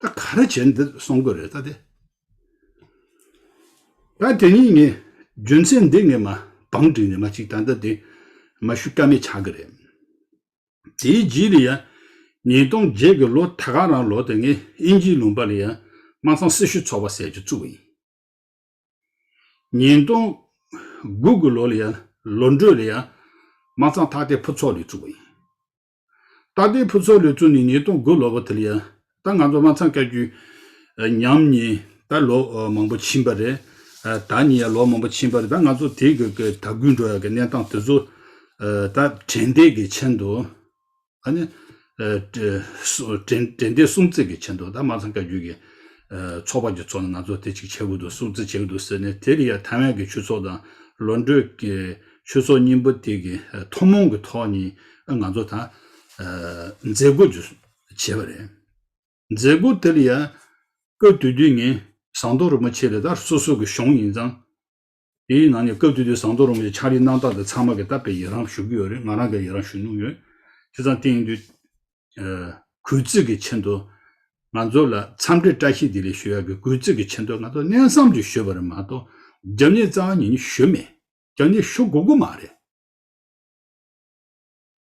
A: ད་ག་རེ་བྱས་འདི་སོང་དགོས་རེད་ད་དེ། ད་དེ་གཉིས་ངས་རྒྱུ་མཚན་འདི་ངས་མ་བང་བསྒྲིགས་ནས་མ་གཅིག་ད་ལྟ་དེ་མ་ཞུ་ཀ་མེད་ཆགས་ཀྱི་རེད། དེའི་རྗེས་ལ་ཡང་ཉིས་སྟོང་བརྒྱད་ཀྱི་ལོ་ད་ག་རང་ལོ་དེ་ངས་ཨིན་ཇིའི་ལུང་པ་ལ་ཡང་དམག་ཚང་སྲི་ཞུ་ཚོགས་པ་ཟེར་གྱི་བཙུགས་ཡིན། ཉིས་སྟོང་དགུ་གི་ལོ་ལ་ཡང་ལོ་འགྲོས་ལ་ཡང་དམག་ཚང་ཐག་དེ་ཕུ་ཚོགས་ལས་བཙུགས་པ་ཡིན། ད་ལྟའི་ཕུ་ཚོ་ལུས་བཙུགས་ནས་ཉིས་སྟོང་དགུ་ལོ་པོ་དེ་ལ་ཡིན། ད་ང་ཚོ་དབང་ཚང་བཀའ་བརྒྱུད། ཉམས་ནི་ད་ལོ་མང་པོ་ཕྱིན་པ་རེད། ད་ནི་ཡང་ལོ་མང་པོ་ཕྱིན་པ་རེད་ད་ང་ཚོ་དེ་གི་གི་ད་གུས་འགྲོ་ཡག་གི་གནས་སྟངས་དེ་ཚོ། ད་དྲན་འདས་ཀྱི་ཆེད་དུ། ཨ་ནི། དྲན་འདས་སྲུང་བརྩི་གི་ཆེད་དུ་ད་དམངས་ཚང་བཀའ་བརྒྱུད་ཀྱི། ཚོགས་པ་གྱི་ཚོགས་ནས་ང་ཚོ་དེ་གཅིག་བྱེད་དགོས་འདུག་སྲུང་བརྩི་བྱེད་དགོས་འདུག་ཟེར་ནས་དེ་རིང་ཡང་ཐའེ་ཝན་གྱི་ཆུ་ཚོགས་དང། ལོ་འགྲོས་ཀྱི། ཆོས་ཚོགས་གཉིས་པོ་དེ་གི་ཐོག་མོང་གི་ཐོག་ནས་ང་ཚོ་ད་མཛད་སྒོ་བྱེད་པ་རེད། མཛད་སྒོ་དེ་ལ་ཡང་སྐབས་དུས་དུས་ངན་ཟངས་མདོག་རིན་པོ་ཆེ་ལས་ད་སོ་སོ་གི་གཞུང་ཡིན་ཙང། དེའི་ནང་ནས་སྐབས་དུས་དུས་ཟངས་མདོག་རིན་པོ་ཆེ་ཕྱག་ལས་གནང་སྟངས་དེ་ཚང་མ་གི་ད་བེད་ཡི་རང་ཞུ་གི་ཡོད་རེད་ང་རང་གི་ཡི་རང་ཞུ་མྱོང་ཡོད། དེ་ཙང་སྟེང་དུས་གུས་བརྩི་གི་ཆེད་དུ་ང་ཚོ་ལ་འཚམས་འདྲི་བཀྲ་ཤིས་བདེ་ལེགས་ཞུ་ཡག་གི་གུས་བརྩི་གི་ཆེད་དུ་ང་ཚོ་གནས་བསམ་གྱི་ཞུས་པ་རེད་མ་གཏོགས་རྒྱབ་གཉེར་རྩ་བ་ཉིད་ནི་ཞུས་མེད། རྒྱ་ནི་ཤོ་གུ་གུ་མ་རེད།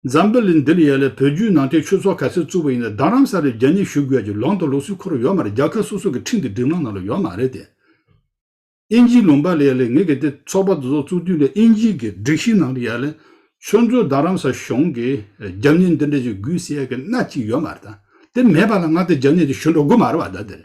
A: འཛམ་བུ་གླིང་འདིར་ཡལ་ལ་བོད་བརྒྱུད་ནང་བསྟན་ཆོས་ཚོགས་ག་ཚད་བཙུགས་པ་ཡིན་ན་རྡ་རམ་ས་ལའི་རྒྱ་ནི་ཞུ་དགོས་ཀྱི་ལོང་དང་ལོག་སུའི་ཁོ་ར་ཡོད་མ་རེད་རྒྱ་ཁ་སོ་སོ་གི་ཁྲིམས་དེ་སྒྲིག་ལམ་ནང་ལ་ཡོད་མ་རེད་དེ། ཨིན་ཇིའི་ལུང་པ་ལ་ཡལ་ལ་ངེད་གི་དེ་ཚོགས་པ་དེ་ཚོགས་བཙུགས་དུས་ལ་ཨིན་ཇིའི་གི་སྒྲིག་གཞི་ནང་ལ་ཡལ་ལ་ཁྱོད་ཚོའི་རྡ་རམ་ས་གཞུང་གི་རྒྱ་ནི་འདི་འདྲ་ཞིག་དགོས་ཟེར་ཡག་གི་སྣ་གཅིག་ཡོད་མ་རེད་ད་དེ་མེད་པ་ལ་ང་དེ་རྒྱ་ནི་དེ་ཞུ་འགྲོ་དགོས་མ་རེད་བ་ད་དེ་རེད།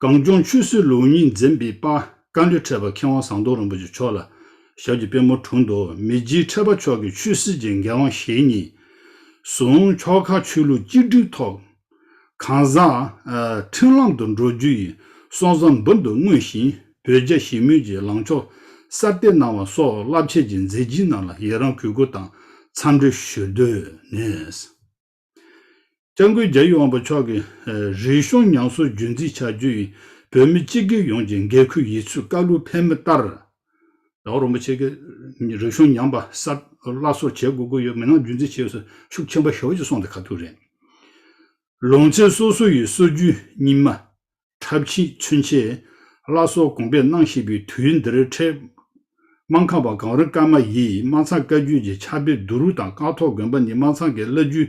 A: གངས་ལྗོངས་ཆོས་སྲིད་ལུགས་གཉིས་འཛིན་པའི་དཔའ་བཀའ་ལུས་འཕྲད་པ་མཁས་དབང་ཟངས་མདོག་རིན་པོ་ཆེ་མཆོག་ལ་ཞབས་ཀྱི་པད་མོ་དྲུང་དུ་མི་རྗེའི་འཕྲད་པ་མཆོག་གི་ཆོས་སྲིད་ཀྱི་འགན་དབང་ཞེ་གཉིས་བཟུང་ཕྱོགས་ཁག་ཆོས་ལུགས་གཅིག་སྒྲིལ་ཐོག་ཁང་བཟངའཁྲིམས་ལམ་དུ་འགྲོ་རྒྱུ་ཡི་སྲོག་བཟང་འབུར་དུ་བསྔོས་ཤིང་བོད་རྒྱ་ཞི་མོལ་གྱི་ལངས་ཕྱོགས་གསར་གཏོད་གནང་བ་སོགས་རླབས་ཆེ་གི་མཛད་རྗེས་རྣམས་ལ་ཡི་རངས་གུས་བཀུར་དང་འཚམས་འདྲི་ཞུ་འདོད་ནས། སྐྱབས་མགོན་རྒྱ་ཡེ་དབང་པོ་མཆོག་གིས། རིག་གཞུང་ཉམས་གསོ་རྒྱུན་འཛིན་བྱ་རྒྱུ་ཡིས། བོད་མི་སྤྱི་སྒེར་ཡོངས་ཀྱི་འགན་ཁུར་ཡིད་ཚུལ་བཀའ་ལུང་ཕན་མི་ལྟར། ཟླ་བ་རིན་པོ་ཆེ་གིས། རིག་གཞུང་ཉམས་པ་སར་སླར་གསོ་བྱེད་དགོས་ཀྱི་ཡོད་མི་སྣང་རྒྱུན་འཛིན་བྱེད་སྲོལ་ཤུགས་ཆེན་པོ་ཞོར་གྱིས་སོང་སྟེ་ག་ཐུག་རེད། ལུང་ཚན་སོ་སོ་ཡི་སྲོལ་རྒྱུན་རྙིང་མ། འཁྲབ་ཕྱིས་མཚོན་ཆའི་བླ་སྲོག་དགོངས་པས་སྣང་ཞིག་པའི་དུས་འདིར་འཕྲད། རྨ་ཁ་བ་གངས་རི་ཀརྨ་ཡིས་རྨ་ཚང་བཀའ་བརྒྱུད་ཀྱི་ཕྱག་དཔེ་བསྡུ་རུག་དང་ཀག་ཐོག་དགོན་པ་ནི་རྨ་ཚང་གི་བླ་བརྒྱུད་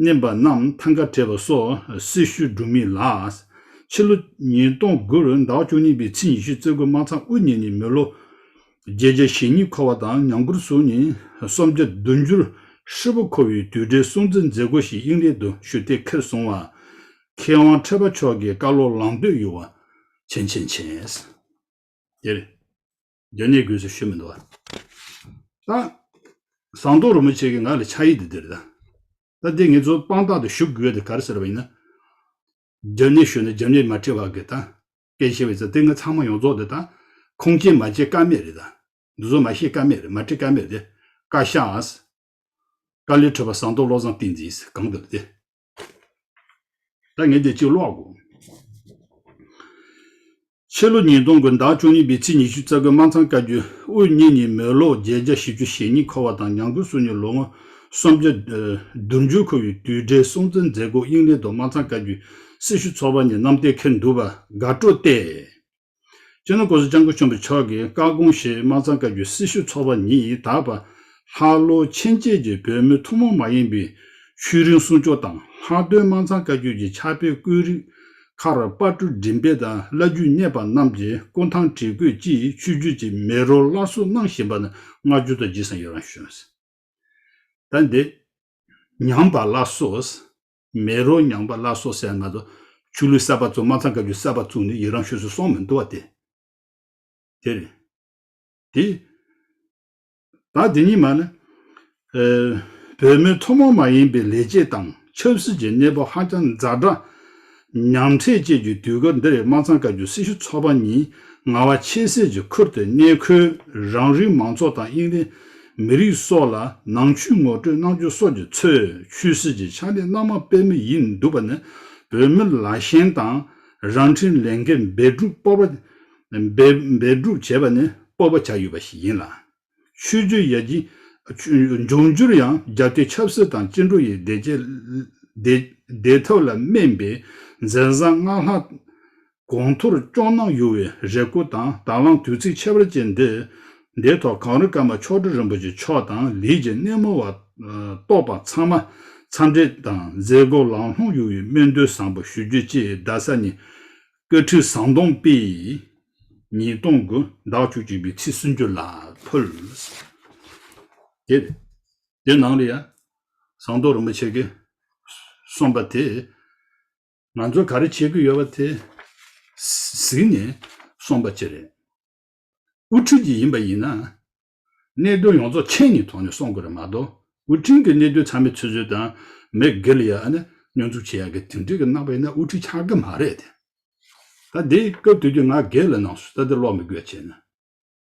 A: བསྣན་པ་རྣམས་ཐང་ག་བྲལ་བ་སོགས་སྲི་ཞུ་སྒྲུབ་མིན་ལ། ཕྱི་ལོ་ཉིས་སྟོང་དགུ་རུ་ཟླ་བཅུ་གཉིས་པའི་ཚེས་ཉི་ཤུ་རྩེ་དགུ་རྨ་ཚང་དབུ་བརྙེས་ནས་མི་ལོ་བརྒྱད་བརྒྱ་ཞེ་གཉིས་འཁོར་བ་དང་ཉང་ཀུར་སུ་ནི་སུམ་བརྒྱ་བདུན་ཅུར་ཧྲིལ་པོ་འཁོར་བའི་དུས་དྲན་སྲུང་བརྩི་མཛད་སྒོ་ཞིག་དབྱིངས་ལེགས་དུ་ཞུ་སྟེ་ཁེར་བཟུང་བ། མཁས་དབང་ཁྲོས་པ་མཆོག་གི་བཀའ་སློབ་ལང་འདོད་ཡུ་བ། ཆེན་ཆེན་ཆེན། དེ་རེད། དོན་གནད་དགོས་ཚུལ་ཤོད་མི་འདུག་བ། ད། ཟངས་མདོག་རིན་པོ་ཆེ་གི་ངག་ལས་ཕྱག་ཡིག་འདི་འདིར་གདའ། ད་འདི་ངེད་ཚོ་དཔང་རྟགས་དུ་ཞུ་དགོས་དེ་གར་ཟེར་བ་ཡིན་ན། རྒྱབ་གནས་ཞུ་ན་རྒྱབ་གནས་མ་ཁྲིད་བ་དགོས་གདའ། སྐད་ཆེ་བའི་ཚེ་དེ་ང་ཚང་མ་ཡོངས་རྫོགས་དེ་ད། ཁུངས་སྐྱེལ་མ་བྱེད་ཀ་མེད་རེད་གདའ། འདི་ཚོ་མ་ཤེས་ཀ་མེད་རེད་མ་ཁྲིད་ཀ་མེད་རེད། བཀའ་ཤག། བཀའ་ལས་ཁྲོས་པ་ཟངས་མདོག་བློ་བཟང་བསྟན་འཛིན། གང་དུ་ལ་དེ། ད་ངས་དེ་གཅིག་ཀློག་དགོས། ཕྱི་ལོ་ཉིས་སྟོང་དགུན་ཟླ་བཅུ་གཉིས་པའི་ཚེས་ཉི་ཤུ་རྩ་དགུ་དམར་ཚང་བཀའ་བརྒྱུད་དབུ་བརྙེས་ཉིན་མོའི་ལོ་བརྒྱད་བརྒྱ་བཞི་བཅུ་ཞེ་གཉིས་འཁོར་བ་དང་ཉང་ཁུ་སུ་ཉིན་ལོ་ངོ་སུམ་བརྒྱ། དུར་འཇུག་འཁོར་བའི་དུས་དགྲའི་སྲོང་བཙན་མཛད་སྒོ་དབྱིངས་ལེ་དོ་དམར་ཚང་བཀའ་བརྒྱུད་སྲི་ཞུ་ཚོགས་པ་ཉིན་ནམ་གཏེར་ཁེར་འདུ་བ་དགའ་སྤྲོ་སྟེ། སྤྱིར་ན་ཀོ་ཟི་ལྕང་སྐུ་ཆོམ་པ་མཆོག་གིས་བཀའ་དགོངས་བཞེས་དམར་གཙང་བཀའ་བརྒྱུད་སྲི་ཞུ་ཚོགས་པ་ཉིད་ད་བར་ལྷག་ལོ་ཕྱེད་མཇལ་གྱི་བོད་མི་ཐུན་མོང་མ་ཡིན་པའི་ཤུལ་རིང་སྲུང་སྐྱོབ་དང་ལྷག་དོན་དམར་གཙང་བཀའ་བརྒྱུད་ཀྱི་ཕྱག་དཔེ་བཀོད་རིགས་ཁར་དཔའ་བཀྲུ་མགྲིན་སྤེལ་དང་བླ་བརྒྱུད་གཉེར་པ་རྣམས་ཀྱི་སྐུ་ཐང་བྲིས་བཀོད་ཀྱིས་ཆོས་བརྒྱུད་ཀྱི་མི་རོ་སླར་གསོ་གནང་བཞིན་པ་ནི་བསྔགས་བརྗོད་དང་བརྗིད་བཟང་ཡོད་རང་ཞུ། ད་འདི། ཉམས་པ་ལ་སོགས། མེ་རོ་མྱང་པ་སླར་གསོ་སའི་ང་ཚོ། ཆུ་ལུད་གསར་པ་བཙུགས་མ་ཚང་བཀའ་བརྒྱུད་གསར་པ་བཙུགས་ནས་ཡི་རང་ཞུས་སུ་སོང་མི་འདུག་བ་དེ། དེར། དེ། ད་དེ་གཉིས་མ་ནི། བོད་མི་ཐུན་མོང་མ་ཡིན་པའི་ལས་བྱེད་དང་ཆབ་སྲིད་ཀྱི་གནས་བབ་ཧ་ཅང་འཛའ་དྲག། ཉམས་ཁྲེལ་བཅས་ཀྱི་དུས་སྐབས་འདིར་མ་ཚང་བཀའ་བརྒྱུད་སྲི་ཞུ་ཚོགས་པ་གཉིས་ང་བ་ཆེ་སེར་གྱི་ཁུར་དེ་གནས་འཁོད་རང་རིགས་མང་ཚོགས་དང་དབྱིངས་རིགས། མི་རིགས་སོགས་ལ་ནང་ཆོས་ངོ་སྤྲོད་གནང་རྒྱུ་སོགས་ཀྱི་ཚོས་ཆོས་སྲིད་ཀྱི་ཕྱག་ལས་སྣ་མང་སྤེལ་མུས་ཡིན་འདུག་པ་ནི་བོད་མིར་ལ་ཞེན་དང་རང་འཁྲིའི་ལས་འགན་འབད་སྒྲུབ་སྤོབས་པ། འབད་སྒྲུབ་བྱེད་པ་ནི་སྤོབས་པ་ཆགས་ཡོད་པ་ཞིག་ཡིན་ལ། ཆོས་བརྒྱུད་ཡར་རྒྱས། འབྱུང་འགྱུར་ཡང་རྒྱ་བསྐྱེད་ཆབ་སྲིད་དང་སྤྱི་འགྲོ་ཡི་བདེ་ཐབས་ལ་སྨན་པའི་མཛད་བཟང་སྔགས་ལྷ། དགོང་ཐོར་སྐྱོང་གནང་ཡོད་བའི་རེ་སྐུལ་དང་དང་བླངས་དུས་ཚིགས་ཕྱེད་པར་བཅས་འདི། འདིའི་ཐོག་གངས་རི་ཀརྨ་མཆོག་སྤྲུལ་རིན་པོ་ཆེ་མཆོག་དང་ལུས་ཀྱི་སྣེ་མོ་བ། རྟོགས་པ་ཚང་མ། འཚམས་འདྲི་དང་མཛད་སྒོ་ལང་ལྷུང་ཡོད་བའི་སྨོན་འདུན་བཟང་པོ་ཞུ་རྒྱུ་བཅས་རྡ་ས་ནས། བཀའ་ཁྲི་ཟམ་གདོང་དཔེ། ཉིས་སྟོང་དགུ་ཟླ་བཅུ་གཅིག་པའི་ཚེས་སུམ་ཅུ་ལ་ཕུལ། དེ། དེ་ནང་ལ་ཡང། ཟམ་གདོང་རིན་པོ་ཆེ་གིས། གསུངས་པ་དེ། ང་ཚོ་ག་རེ་བྱེད་ཀྱི་ཡོད་པ་དེ་གཟིགས་ནས་སོང་པ་བཅས་རེད། དབུ་ཁྲིད་ཀྱི་ཡིན་པ་ཡིན་ན། གནད་དོན་ཡོངས་རྫོགས་མཁྱེན་ནས་དོགས་ནས་སོང་དགོས་རེད་མ་གཏོགས་དབུ་ཁྲིན་གྱི་གནད་དོན་ཚང་མའི་ཚུལ་ཚོད་དང་མི་སྒེར་ལ་ཡ་ཨ་ན་སྙོན་འཛུགས་བྱེད་ཡ་གི་དེ་འདྲས་ཀྱི་རྣམ་པ་ཡིན་ན་དབུ་ཁྲིད་ཆགས་ཀྱི་མ་རེད་དེ། ད་དེ་སྐབས་དུས་ཀྱི་ང་སྒེར་ལ་ནང་སུ་ད་དེ་ཀློག་མི་དགོས་བྱས་ན།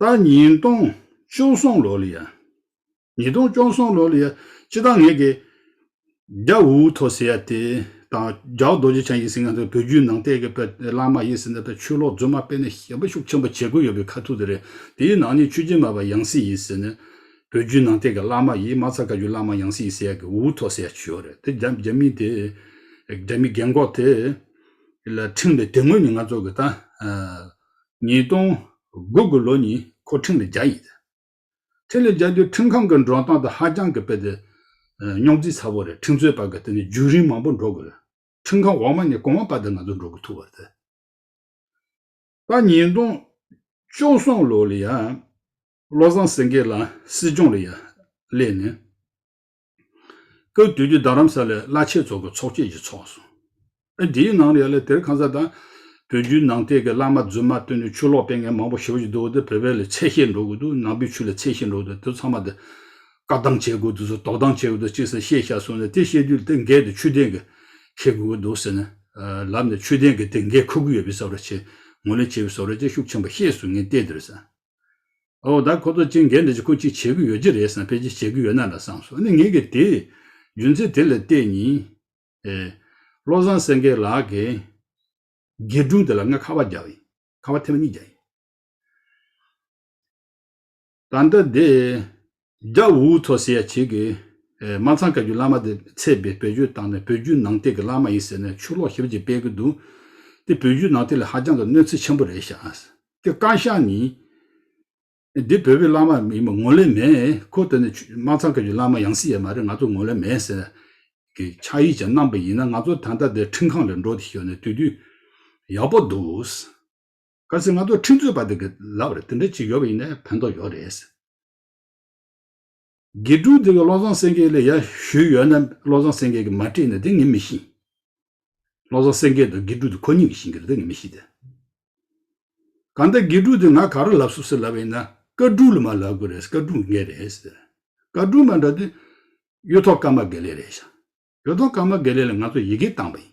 A: ད་ཉིས་སྟོང་བཅུ་གསུམ་ལོ་ལ་ཡང། ཉིས་སྟོང་བཅོ་གསུམ་ལོ་ལ་ཡང་སྤྱི་བཏང་ངེད་ཀྱི། རྒྱ་འུ་ཐོ་སི་ཡ་ཏི་དང་རྒྱའུ་རྡོ་རྗེ་འཆང་ཡིས་ཟིན་ང་ཚོའི་བོད་བརྒྱུད་ནང་བསྟན་གྱི་དཔལ་བླ་མ་ཡིན་ཟིན་ད་ཆོས་ལོག་རྫུན་མ་སྤེལ་ནས་ཞེན་པ་ཤུགས་ཆེན་པོ་བྱེད་དགོས་ཡོད་པའི་ཁ་ཐུག་དེ་རེད་དེའི་ནང་ནས་ཆོས་རྗེ་མ་པ་ཡང་སྲིད་ཡིན་ཟེར་ནས། བོད་བརྒྱུད་ནང་བསྟན་གྱི་བླ་མ་ཡིས་མ་ཚ་བཀའ་བརྒྱུད་བླ་མ་ཡང་སྲིད་ཡིན་ཟེར་ཡ་གི་འུ་ཐོ་སི་ཡ་ཆོས་རེད་དེ་རྒྱ་རྒྱ་མི་དེ། རྒྱ་མི་རྒན་འགོག་དེ། ལ་ཁྲིམས་ལས་དེ་ངོས་ནས་ང་ཚོ་གི་ད། ཉིས་སྟོང་དགུ་དགུ་ལོ་ཉིན་འཁོར་ཕྲིན་ལས་བརྒྱ་ཡིན་ཟེར། ཕྲིན་ལས་བརྒྱ་རྒྱུ་ཁྲིམས་ཁང་གི་མགྲོན་སྟངས་དང་ཧ་ཅང་གི་དཔེ་དེ། རྙོག་འཛིང་ཚ་བོ་རེད་ཁྲིམས་རྩོད་པ་གི་དེ་ནས་རྒྱུན་རིང་མང་པོ་འགྲོ་དགོས་རེད་ཁྲིམས་ཁང་འོག་མ་ནས་གོང་མ་པ་དེ་ང་ཚོ་འགྲོ་དགོས་ཐུག་བར་དེ། པ་ཉིས་སྟོང་བཅུ་གསུམ་ལོ་ལ་ཡང་བློ་བཟང་སེང་གེ་ལ་སྲིད་སྐྱོང་ལ་ཡང་སླེབས་ནས། སྐབས་དུས་ཀྱི་རྡ་རམ་ས་ལའི་བླ་ཆེན་ཚོགས་ཀྱི་ཚོགས་ཆེན་ཞིག་ཚོགས་སོང། ཨ་དེའི་ནང་ཡ་ལེ་དེར་ཁང་ས་དང། བོད་བརྒྱུད་ནང་བསྟན་གྱི་བླ་མ་རྫུན་མ་བཏོན་ནས་ཆུ་ལོག་སྤེལ་མཁན་མང་པོ་ཞི་བ་ཞིག་འདུག་དེ་བོད་པའི་ལས་ཚད་ཤེས་འགྲོ་གི་འདུག་ནང་པའི་ཆུ་ལས་ཚད་ཤེས་འགྲོ་གི་འདུག་དེ་ཚང་མ་དེ། བཀག་སྡམ་བྱེད་དགོས་འདུག་ཟེར་དོགས་སྡམ་བྱེད་དགོས་འདུག་ཅེས་ཟེར་ཤེས་བྱ་གསུངས་ནས་དེ་བཤད་དུས་དེ་འགས་དེ་ཆུ་ལྡན་གྱི་ཁེ་དགོས་ཀྱི་འདུག་ཟེར་ནས། ལབ་ནས་ཆུ་ལྡན་གྱི་དེ་འགས་ཁུར་གྱི་ཡོད་པའི་བསམ་ར་བྱས། ངོས་ལེན་བྱས་པའི་བཟོ་ར་ཅན་ཤུགས་ཆེན་པོ་ཤེས་གསུངས་ངས་ལྟས་དེར་ཟིན། འོ་ད་ཁོ་ཚོ་གཅིག་འགན་འདི་ཅི་ཁོ་གཅིག་བྱེད་གི་ཡོད་ཀྱི་རེད་བསམ་ཕལ་ཆེར་བྱེད་གི་ཡོད་ན་ལ་བསམ་སོང་ནི་ངེད་ཀྱི་དེ། རྒྱུ་མཚན་དེ་ལ་བལྟས་ཉིན། ཨེ། བློ་བཟང་སེང་གེ་ལགས་ཀྱིས། སྒེར་སྒྲུང་དེ་ལ་ང་ཁ་བ་བརྒྱ་ཡིན། ཁ་བ་ཐེར་བ་གཉིས་བརྒྱ་ཡིན། ད་ལྟ་དེ། རྒྱ་བོད་འུ་ཐོག་ཟེར་ཡ་བྱེད་ཀྱི། མ་ཚང་བཀའ་བརྒྱུད་བླ་མ་དེ་ཚད་པའི་བོད་བརྒྱུད་དང་ནི་བོད་བརྒྱུད་ནང་བསྟན་གྱི་བླ་མ་ཡིན་ཟེར་ནས་ཆུ་ལོག་ཞིབ་ཅིག་སྤེལ་གྱི་འདུག་འདི་བོད་བརྒྱུད་ནང་བསྟན་ལ་ཧ་ཅང་གི་གནོད་འཚེ་ཆེན་པོ་རེད་ཤག། འདི་བཀའ་ཤག་ནི། འདི་བོད་བོད་བླ་མ་ཡིན་པ་ངོ་ལེ་མེད་ཁོ་དེ་ནི་མ་ཚང་བཀའ་བརྒྱུད་བླ་མ་ཡང་སྲིད་ཡ་མ་རེད་ང་ཚོ་ངོ་ལེ་མེད་ཟེར་གི་ཕྱག་ཡིག་ཅིག་གནང་པ་ཡིན་ན་ང་ཚོ་ད་ལྟ་འདི་ཁྲིམས་ཁང་ལས་འགྲོ་དེ་ཤོར་ནས་དུས་དུས་ཡག་པོ་འདུག། གལ་སྲིད་ང་ཚོ་ཁྲིམས་རྩོད་པ་དེ་གི་ལབ་རེད་དེ་འདྲ་ཅིག་ཡོད་པ་ཡིན་ན་ཕན་ཐོག་ཡོད་རེད། དགེ་ཕྲུག་དེ་ག་བློ་བཟང་སེང་གེ་ལ་ཡར་ཞུས་ཡོད་ན་བློ་བཟང་སེང་གེ་གི་མ་སྤྲད་ན་དེ་ངས་མི་ཤེས། བློ་བཟང་སེང་གེ་དང་དགེ་ཕྲུག་དེ་ཁོ་གཉིས་ཀྱི་བཞིན་གི་རེད་དེ་ངས་མི་ཤེས་ཏེ། གང་ལྟར་དགེ་ཕྲུག་དེ་ང་ག་རུ་ལབ་སུབ་སུ་ལབ་ཡིན་ན་བཀའ་དྲུང་ལ་མ་ལབ་དགོས་རེད་བཀའ་དྲུང་འགས་རེད། བཀའ་དྲུང་མ་འདྲ་དེ། གཡུ་ཐོག་ཀརྨ་དགེ་ལེགས་རེད་བཞག། གཡུ་ཐོག་ཀརྨ་དགེ་ལེགས་ལ་ང་ཚོ་ཡི་གེ་བཏང་བ་ཡིན།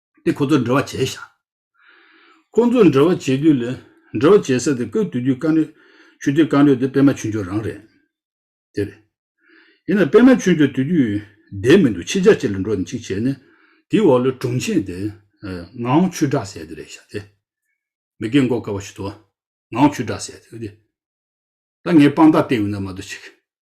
A: དེ་ཁོ་ཚོར་འབྲེལ་བ་བྱས་ཤག། ཁོ་ཚོར་འབྲེལ་བ་བྱེད་དུས་ལ། འབྲེལ་བ་བྱེད་ས་དེ་བཀོད་འདུག་རྒྱུ་རྐང་རེད། ཆུ་དུས་རྐང་རེད་དེ་པད་མ་ཆུ་མཆོག་རང་རེད། དེ་རེད། ཡིན་ནའང་པད་མ་ཆུ་མཆོག་དུས་རྒྱུས། བསྡད་མི་འདུག་ཕྱི་ཆར་ཅིག་ལ་འགྲོ་ནས་ཅིག་བྱས་ནས། དེའི་འོག་ལ་དྲུང་ཆེ་དེ། ངའང་ཆུ་བསྒྲགས་ཟེར་དེ་རེད་ཤག་དེ། མི་སྐད་འགོག་དཀའ་བ་ཞིག་ཏུ། ངའང་ཆུ་བསྒྲགས་ཟེར་དེ། ད་ངས་དཔང་རྟགས་བལྟས་ཡོང་ན་མ་གཏོགས་ཅིག།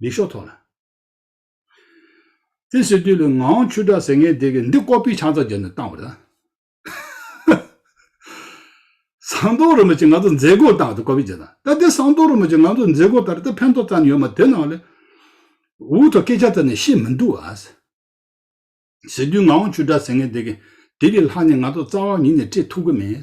A: ལས་ཤོག་ཐོག་ལ། དེ་ཟེར་དུས་ལ་ངའང་ཆུ་དྲག་ཟེར་ངེས་དེ་གི་འདི་ཀོ་པི་ཆང་ཚ་རྒྱབ་ནས་བཏང་བ་རེད། ཟངས་མདོག་རིན་པོ་ཆེ་ང་ཚོ་མཛད་སྒོར་བཏང་བ་དེ་ཀོ་པི་རྒྱབ་དང་ད་དེ་ཟངས་མདོག་རིན་པོ་ཆེ་ང་ཚོ་མཛད་སྒོར་ད་རེ་ད་ཕན་ཐོག་ཙམ་ཡོད་མ་དེ་ནང་ལས་འུ་ཐོག་སྐད་ཆ་ཙམ་ནས་ཤེས་མི་འདུག་ཨ། ཟེར་དུས་ངའང་ཆུ་དྲག་ཟེར་ངེས་དེ་གི་དེ་གི་ལྷག་ནས་ང་ཚོ་རྩ་བ་ཉིད་ནས་སྤྲད་ཐུབ་གི་མེད།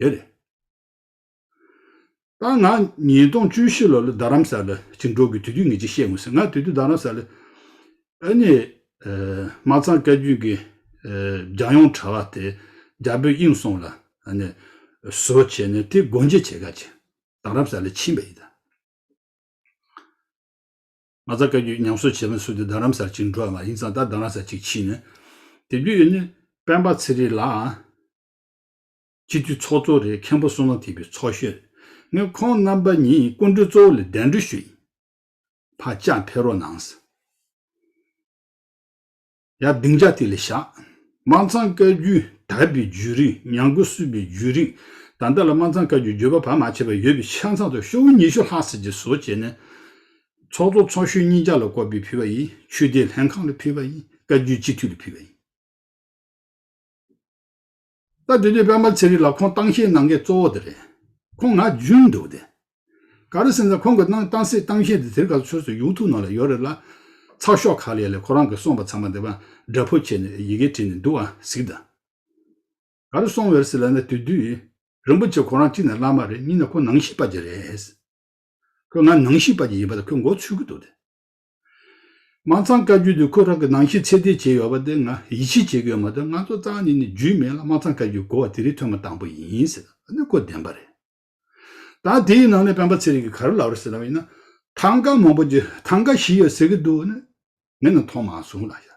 A: ཡོད་རེད། ད་ང་ཉིས་སྟོང་བཅུ་བཞི་ལོ་ལ་རྡ་རམ་ས་ལ་ཅིག་འགྲོ་དགོས་དུས་དུས་ངེས་ཅིག་བཤད་ངོས་ཟེར་ང་དུས་དུས་རྡ་རམ་ས་ལ་ཨ་ནེ་མ་ཚང་བཀའ་རྒྱུད་ཀྱི་རྒྱ་ཡོངས་གྲྭ་བ་དེ་རྒྱ་བོད་དབྱིངས་སོང་ལ་ཨ་ནེ་བཟོ་བྱས་ནས་དེ་སྒོ་འབྱེད་བྱེད་ཁ་ཅིག་རྡ་རམ་ས་ལ་ཕྱིན་པ་ཡིན་ད། མ་ཚང་བཀའ་རྒྱུད་ཉམས་གསོ་བྱེད་མི་སུ་དེ་རྡ་རམ་ས་ལ་ཅིག་འགྲོ་བ་མ་ཡིན་ཙང་ད་རྡ་རམ་ས་ཅིག་ཕྱིན་ནས་དེ་དུས་ཨ་ནེ་སྤེན་པ་ཚེ་རིང་ལའང། སྤྱི་འཐུས་ཚོགས་གཙོ་རེད་མཁན་པོ་བསོད་ནམས་འཐིབས་པའི་ཚོགས་གཞོན། ངས་ཁོང་རྣམ་པ་གཉིས་སྐུ་མགྲོན་གཙོ་བོ་ལ་གདན་འདྲི་ཞུ་ཡིན། བག་ཆགས་འཕེལ་རོགས་གནང། ཡ་སྡིངས་ཆ་དེ་ལས་བཞག། དམངས་ཚང་བཀའ་བརྒྱུད་དར་པའི་བརྒྱུད་རིང་ཉམས་རྒུད་བསུས་པའི་བརྒྱུད་རིང་ད་ལྟ་ལ་དམངས་ཚང་བཀའ་བརྒྱུད་བརྒྱུད་པ་བར་མ་ཆད་པ་ཡོད་པའི་ཆ་ཚང་དུ་ཤོག་བུ་ཉི་ཤུ་ལྷག་ཟེར་གྱི་བཟོ་བྱས་ནས། ཚོགས་གཙོ་ཚོགས་གཞོན་གཉིས་ཀྱང་ལ་བསྐོར་པའི་ཕུལ་བ་ཡིན་ཆོས་དད་ལྷན་ཁང་ལ་ཕུལ་བ་ཡིན་བཀའ་བརྒྱུད་སྤྱི་འཐུས་ལ་ཕུལ་བ་ཡིན། ད་དུས་དེའི་དཔལ་འབར་ཚེ་རིང་ལ་ཁོང་ཏང་གཤིས་གནང་མཁན་གཙོ་བོ་དེ་རེད། ཁོང་ང་རྒྱུན་འདུག་དེ། ག་རེ་སེམས་ཙམ་ཁོང་གི་གནང་ཏང་སྲིད་ཏང་གཤིས་དེ་དེར་ག་ཚོད་ཚོད་སུ་ཡོང་ཐུབ་ནོ་ལ་ཡོད་རེད་ལ། ཚགས་ཤོག་ཁ་ལས་ལས་ཁོ་རང་གི་གསུངས་པ་ཚང་མ་དེ་བ་འདྲ་ཕོ་ཁྱེད་ནས་ཡི་གེ་བྲིས་ནས་འདུག་ཨ་ཟིག་ད། ག་རེ་སོང་བེར་སི་ལ་ན་དུས་དུས། རིན་པོ་ཆེ་ཁོ་རང་གཅིག་ནས་བླ་མ་རེད་གཉིས་ནས་ཁོ་ནང་གཤིས་དཔའ་གྱི་རེད། ཁོས་ང་ནང་གཤིས་དཔའ་གྱི་ཡིན་པ་དེ་ཁོས་མགོ་ཚུད་ཀྱི་འདུག་དེ། མ་ཚང་བཀའ་བརྒྱུད་དེ་ཁོ་རང་གི་ནང་བཞིན་ཚད་ལྡན་བྱས་ཡོད་པ་དེ་ང་ཡིད་ཆེས་བྱེད་གི་ཡོད་མ་ཏོག་ང་ཚོ་ཙང་ནི་ནི་རྒྱུས་མེད་ལ་མ་ཚང་བཀའ་བརྒྱུད་གོ་བ་དེ་རིགས་ཐོས་མ་དང་པོ་ཡིན་ཟེར་ད་ནི་ཁོ་བདེན་པ་རེད། ད་དེའི་ནང་ནས་སྤེན་པ་ཚེ་རིང་གི་ག་རེ་ལབ་རེ་ཟེར་ནའང་ཡིན་ན་ཐང་ག་མང་པོ་རྒྱུ་ཐང་ག་བཞི་ཡོད་ཟེར་གི་འདུག་ནི་ངས་ནི་མཐོང་མ་སོང་ལ་ཤ་ལ།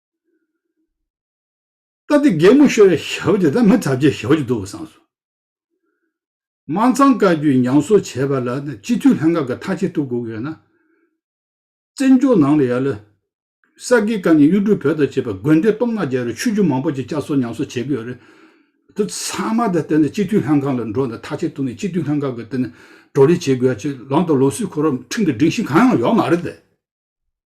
A: ད་ལྟའི་སྒེག་མོ་ཤོར་བའི་ཞབས་དེ་ད་མི་གྲབས་ཅན་ཞབས་ཀྱི་འདུག་བསམ་སོང། དམངས་གཙང་བཀའ་བརྒྱུད་ཉམས་གསོ་བྱས་པ་ལ་སྤྱི་འཐུས་ལྷན་ཁང་གི་མཐའ་ཆེ་ཐུགས་དགོས་ཀྱི་ཡོད་ན། བཙན་བྱོལ་ནང་ལ་ཡ་ལ། ས་དགེ་བཀའ་ནི་གཡུ་འབྲུག་བོད་དང་བཅས་པ་དགོན་སྡེ་སྟོང་ལྔ་བརྒྱ་རེར་ཆོས་བརྒྱུད་མང་པོ་ཅིག་བསྐྱར་གསོ་ཉམས་གསོ་བྱེད་ཀྱི་ཡོད་རེད། དེ་ཚང་མ་ད་དེ་ནི་སྤྱི་འཐུས་ལྷན་ཁང་ལ་འགྲོ་ནས་མཐའ་ཆེ་ཐུགས་ནས་སྤྱི་འཐུས་ལྷན་ཁང་གི་དེ་ནི་བགྲོ་གླེང་བྱེད་དགོས་ཡ་ཅིག་ལམ་དུ་ལོ་སུས་འཁོར་རམ་ཁྲིམས་ཀྱི་སྒྲིག་གཞི་གང་ཡང་ཡོད་མ་རེད་དེ།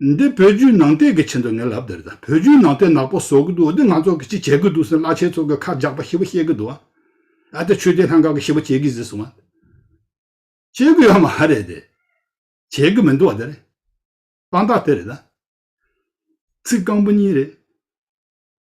A: འདི་བོད་བརྒྱུད་ནང་བསྟན་གྱི་ཆེད་དུ་ངས་ལབ་འདི་རེད་ད་བོད་བརྒྱུད་ནང་བསྟན་ནག་པོ་བཟོ་གི་འདུག་འདི་ང་ཚོ་གི་ཅི་བྱེད་གི་འདུག་སེ་བླ་ཆེན་ཚོ་གི་ཁ་རྒྱག་པ་ཞེ་བོ་ཤེས་གི་འདུག་ཨ་ཏི་ཆོས་རྒྱལ་ལྷན་ཁང་གི་ཞེ་བོ་བྱེད་གི་ཟིག་སོང་ཨ། བྱེད་གི་ཡོད་མ་རེད་དེ། བྱེད་གི་མི་འདུག་ཨ་དེ་རེད། དཔང་རྟགས་དེ་རེད་ད། ཚིག་རྐང་པོ་གཉིས་རེད།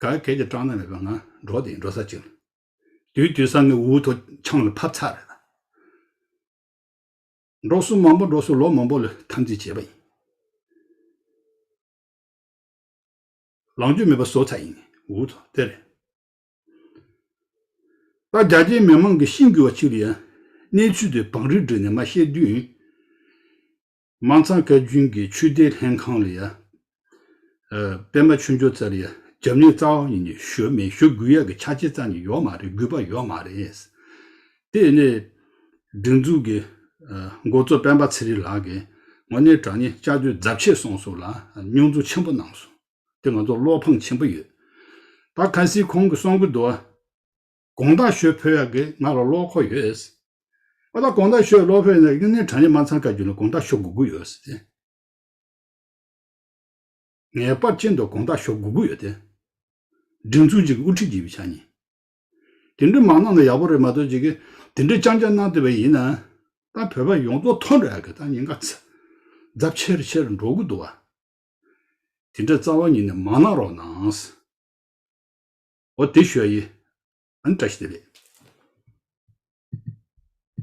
A: ག་གལ་གྱི་སྐྲག་སྣང་མེད་པའི་ངང་འགྲོ་དེ་འགྲོ་ས་ཅིག་ལ། དུས་དུས་ས་ནི་འུ་ཐུག་ཆང་ལ་ཕབ་ཚར་རེད་ད། འགྲོ་བསུ་མང་པོ་འགྲོ་བསུ་ལོ་མང་པོ་ལ་འཐམ་འཛིང་བྱས་པ་ཡིན། ལངས་རྒྱུ་མེད་པ་བཟོ་ཚར་ཡིན་འུ་ཐུག་དེ་རེད། པ་རྒྱ་ཆེའི་མི་མང་གི་ཤིང་རྒྱུ་བ་ཅིག་ལ་ཡང་གནས་ཚུལ་དེ་བང་རིར་བསྒྲིགས་ནས་མ་བཤད་དུས། དམངས་གཙང་བཀའ་བརྒྱུད་ཀྱི་ཆོས་སྡེ་ལྷན་ཁང་ལ་ཡ། པད་མ་ཆོས་འབྱོར་ཙར་ཡ། རྒྱབ་གཉེར་རྩ་བ་ཉིད་ནས་ཞུ་མེད་ཞུ་དགོས་ཡག་གི་ཆ་བྱད་རྩ་ནས་ཡོག་མ་རེད་དགོས་པ་ཡོག་མ་རེད། དེ་ནས། སྒྲིག་འཛུགས་ཀྱི། འགོ་གཙོ་སྤེན་པ་ཚེ་རིང་ལགས་ཀྱིས། ངོ་ནས་དྲང་ཉེ་ལྕགས་ཀྱུ་རྫབ་ཆེ་སོང་སོང་ལ་རྙོག་འཛུགས་ཆེན་པོ་གནང་སོང། དེ་ང་ཚོར་བློ་ཕངས་ཆེན་པོ་ཡོད། ད་གལ་སྲིད་ཁོང་གི་གསུང་གི་འདུ་བ། དགོངས་དག་ཞུ་ཕོད་ཡག་གི་ང་ལ་བློ་ཁོག་ཡོད། ཨ་ད་དགོངས་དག་ཞུ་བློ་ཕོད་ནས་ངེད་གནས་གྲངས་ཡིག་མ་ཚང་དཀའ་རྒྱུ་ནི་དགོངས་དག་ཞུ་དགོས་དགོས་ཡོད་དེ། ངེས་པར་ཅན་དུ་དགོངས་དག་ཞུ་དགོས་དགོས་ཡོད་དེ། སྒྲིག་འཛུགས་གཅིག་གི་དབུ་ཁྲིད་བགྱིས་པའི་ཆ་ནས། དེ་འདྲའི་མ་གནང་ན་ཡག་པོ་རེད་མ་གཏོགས་གཅིག་གིས་དེ་འདྲའི་རྐྱང་རྐྱང་གནང་བསྡད་པ་ཡིན་ན། ད་བོད་པ་ཡོངས་རྫོགས་ཐོག་འདྲ་ཡག་གི་ད་ཉིན་ག་ཚེ། རྫབ་ཆེར་ཆེར་འགྲོ་དགོས་འདུག་བ། དེ་འདྲའི་རྩ་བ་ཉིད་ནས་མ་གནང་རོགས་གནང། ཨོ་དེ་ཞོ་ཡི། ཨ་ནི་བཀྲ་ཤིས་བདེ་ལེགས།